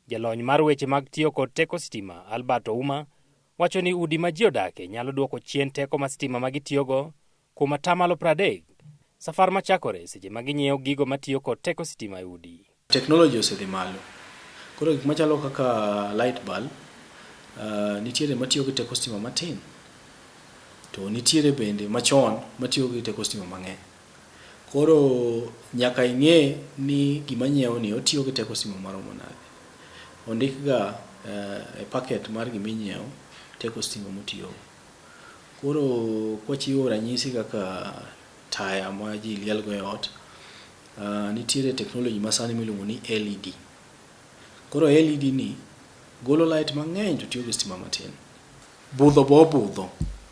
Jalony mar weche mag tiyo kod teko sitima, Albert Ouma, wacho ni udi ma ji odakie nyalo duoko chien teko ma sitima ma gitiyogo kuom atamalo 30 safar ma chakore seche ma ginyiewo gigo ma tiyo kod teko sitima e udi. Technology osedhi malo. Koro gik machalo kaka light bulb, uh, nitiere matiyo gi teko sitima matin. To nitiere bende machon matiyo gi teko sitima mang'eny. Koro nyaka ing'e ni gima nyiewo ni otiyo gi teko stima maromo nade. Ondik ga e packet mar gima inyiewo teko stima motiyo go. Koro kwachiwo ranyisi kaka taya ma ji liel go e ot, nitiere technology ma sani miluongo ni LED. Koro LED ni golo light mang'eny to tiyo gi stima matin. Budho bo obudho.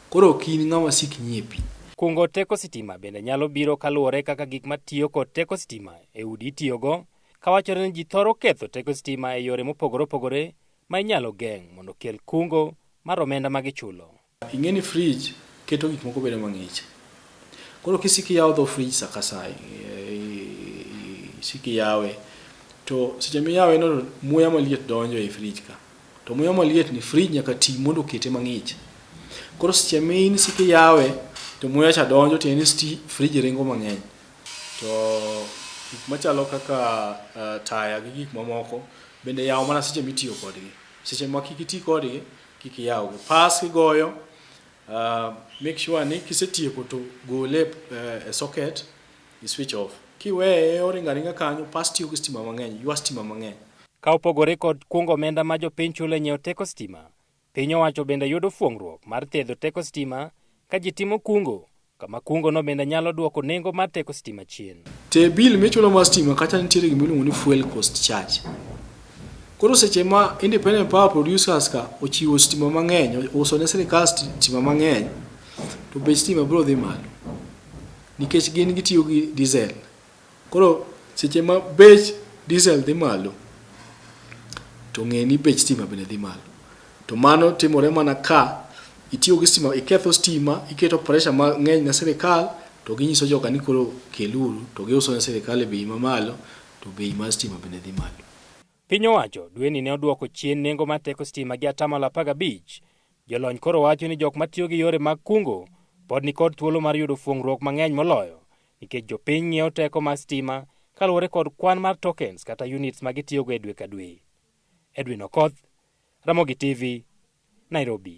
Koro ok in ng'a wasik nyie pi. Kungo teko sitima bende nyalo biro kaluwore kaka gik ma tiyo kod teko sitima e udi itiyogo, ka wachore ni ji thoro ketho teko sitima e yore mopogore opogore ma inyalo geng' mondo kel kungo mar omenda ma gichulo. Ing'e ni frij keto gik moko bedo mang'ich. Koro kisiko iyawo dho frij sa ka sa, isiko iyawe. To seche miyawe no to muya maliet donjo ei frij ka. To muya maliet ni fridge nyaka ti mondo okete mang'ich. Koro seche main sik iyawe to muya cha donjo tiende ni sti fridge ringo mang'eny. To gik machalo kaka uh, taya gi gik mamoko bende yawo mana seche mitiyo kodgi. Seche ma kik iti kodgi kik iyawgi. Pas kigoyo uh, make sure ni kisetieko to gole uh, e socket i switch off. Kiweye oringa ringa kanyo pas tiyo gi stima mang'eny, ywa stima mang'eny. Ka opogore kod kungo omenda ma jopiny chulo e nyiewo teko stima, piny owacho bende yudo fuong'ruok mar thedho teko stima ka ji timo kungo, kama kungono bende nyalo duoko nengo mar teko stima chien. Te bill michulo mar stima kacha nitiere gima iluongo ni fuel cost charge. Koro seche ma independent power producers ka ochiwo stima mang'eny, uso ne sirikal stima mang'eny, to bech stima biro dhi malo nikech gin gitiyo gi diesel. Koro seche ma bech diesel dhi malo to ng'e ni bech stima bende dhi malo. To mano timore mana ka itiyo gi stima, iketho stima, iketo pressure mang'eny ne sirikal to ginyiso joga ni koro keluru to giuso ne sirikal e bei mamalo to bei mar stima bende dhi malo. Piny owacho dweni ne oduoko chien nengo mar teko stima gi atamalo apar gabich. Jolony koro wacho ni jok matiyo gi yore mag kungo pod nikod thuolo mar yudo fuong'ruok mang'eny moloyo nikech jopiny ng'iewo teko mar stima kaluwore kod kwan mar tokens kata units ma gitiyogo e dwe ka dwe. Edwin Okoth, Ramogi TV, Nairobi.